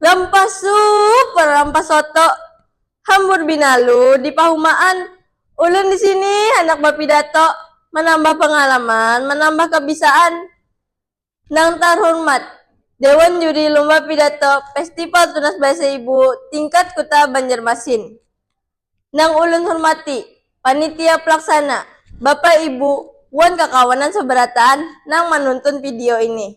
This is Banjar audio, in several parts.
Lampah super, lampah soto, hambur binalu di pahumaan. Ulun di sini handak bapidato, manambah pangalaman, manambah kabisaan. Nang tarhurmat, Dewan Juri Lumba Pidato Festival Tunas Bahasa Ibu Tingkat Kuta Banjarmasin. Nang ulun hurmati, Panitia Pelaksana, Bapak Ibu, wan kakawanan sabarataan nang manuntun video ini.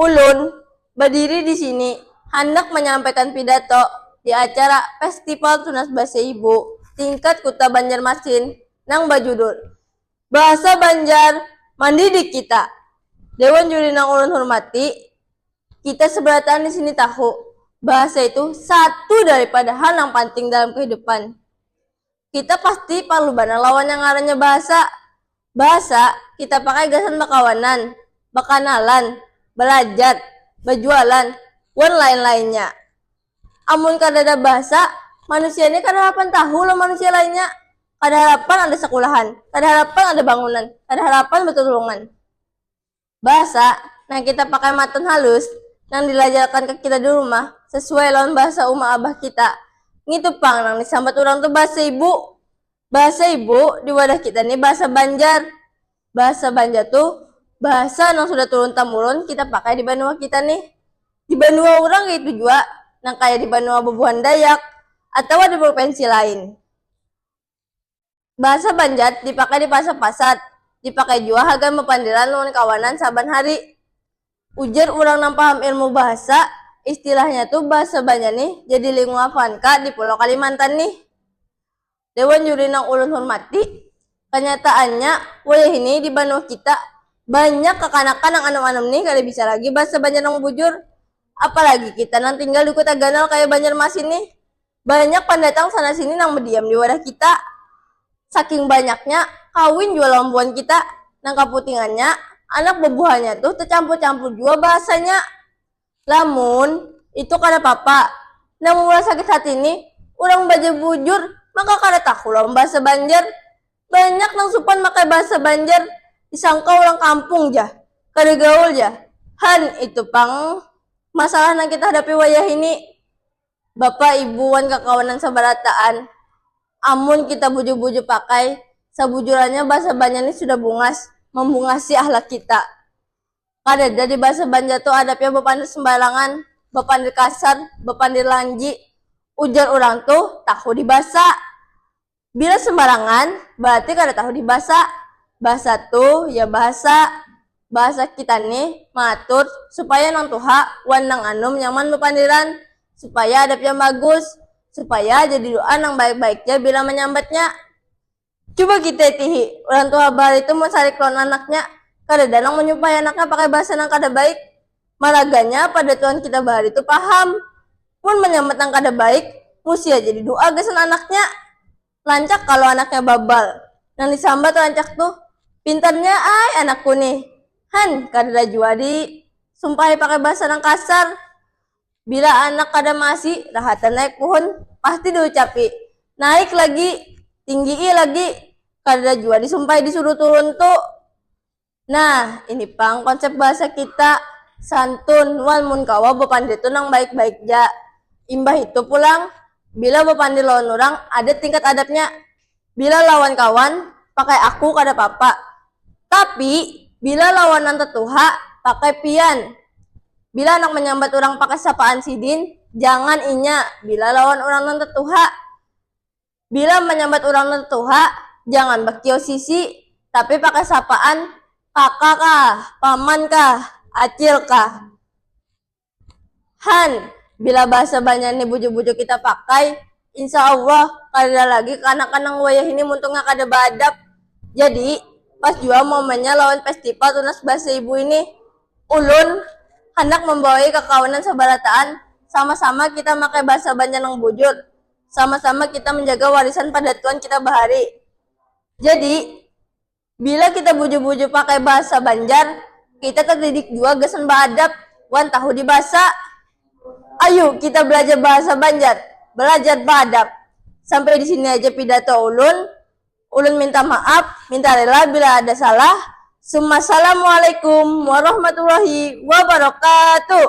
Ulun badiri di sini handak manyampaikan pidato di acara Festival Tunas Basa Ibu tingkat Kuta Banjarmasin nang bajudul Bahasa Banjar Mandidik Kita. Dewan Juri nang ulun hurmati, kita sabarataan di sini tahu, bahasa itu satu daripada hal nang panting dalam kahidupan. Kita pasti parlu banar lawan yang ngarannya bahasa. Bahasa, kita pakai gasan bakawanan, bakanalan, balajar, bajualan, wan lain-lainnya. Amun kadada bahasa, manusia ni kada harapan tahu lawan manusia lainnya, kada harapan ada sakulahan, kada harapan ada bangunan, kada harapan batulungan. Bahasa nang kita pakai matan halus, nang dilajarkan ka kita di rumah, sasuai lawan bahasa uma abah kita, ngitu pang nang disambat urang tu bahasa ibu. Bahasa ibu di wadah kita ni bahasa Banjar. Bahasa Banjar tu bahasa nang sudah turun-tamurun kita pakai di banua kita nih. Di banua urang kaytu jua, nang kaya di banua bubuhan Dayak atawa di prupensi lain. Bahasa Banjar dipakai di pasar-pasar, dipakai jua hagan bapandiran lawan kawanan saban hari. Ujar urang nang paham ilmu bahasa, istilahnya tu bahasa Banjar nih jadi linguafan ka di pulau Kalimantan nih. Dewan Juri nang ulun hurmati, kanyataannya wayahini di banua kita banyak kakanakan nang anum-anum nih kada bisa lagi bahasa Banjar nang bujur, apalagi kita nang tinggal di kuta ganal kaya Banjarmasin nih. Banyak pandatang sana sini nang badiam di wadah kita. Saking banyaknya, kawin jua lawan buhan kita. Nang kaputingannya, anak babuhannya tuh tacampur campur jua bahasanya. Lamun, itu kada papa. Nang maulah sakit hati nih, urang bajar bujur maka kada tahu lawan bahasa banjar. Banyak nang supan makai bahasa banjar, disangka urang kampung jah, kada gaul jah. Han, itu pang masalah nang kita hadapi wayahini. Bapa, ibu, wan kakawanan sabarataan. Amun kita bujur-bujur pakai, sabujurannya bahasa Banjar ni sudah bungas mambungasi ahlak kita. Kadada di bahasa Banjar tu adabnya bapandir sambarangan, bapandir kasar, bapandir lanji, ujar urang tu tahu di basa. Bila sembarangan, berarti kada tahu di basa. Basa tu ya bahasa. Bahasa kita nih maatur supaya nang tuha wan nang anum nyaman bapandiran, supaya adab yang bagus, supaya jadi doa nang baik-baik ja bila manyambatnya. Cuba kita itihi, urang tuha bahari tu mun sarik lawan anaknya, kadada nang manyumpahi anaknya pakai basa nang kada baik. Maraganya pada tuhan kita bahari tu paham. Mun manyambat nang kada baik, musi haja di du'a gasan anaknya. Lancak kalo anaknya babal. Nang disambat lancak tu, pintarnya ai anakku nih. Han, kadada jua di sumpahi pakai bahasa nang kasar. Bila anak kada maasi, rahatan naik puhun, pasti di ucapi, naik lagi, tinggi'i lagi. Kadada jua di sumpahi di suruh turun tu. Nah, ini pang konsep bahasa kita santun wan mun kawa bapandir tu nang baik-baik ja. Imbah itu pulang, bila bapandir lawan urang ada tingkat adabnya. Bila lawan kawan, pakai aku kada papa. Tapi, bila lawan nang tatuha, pakai pian. Bila handak manyambat urang pakai sapaan sidin, jangan inya bila lawan urang nang tatuha. Bila manyambat urang nang tuha, jangan bakiyau sisi, tapi pakai sapaan kaka kah, paman kah, acil kah. Han, bila bahasa banjar ni bujur-bujur kita pakai, insya allah kadada lagi kanakan nang wayahini muntungnya kada baadab. Jadi, pas jua momennya lawan festival Tunas Bahasa Ibu ini, ulun handak mambawai kakawanan sabarataan sama-sama kita makai bahasa banjar nang bujur, sama-sama kita menjaga warisan padatuan kita bahari. Jadi, bila kita bujur-bujur pakai bahasa Banjar, kita terdidik jua gasan baadab wan tahu di bahasa. Ayu kita balajar bahasa Banjar, balajar baadab. Sampai di sini aja pidato ulun. Ulun minta maaf, minta rela bila ada salah. Summa Salamualaikum Warahmatullahi Wabarakatuh.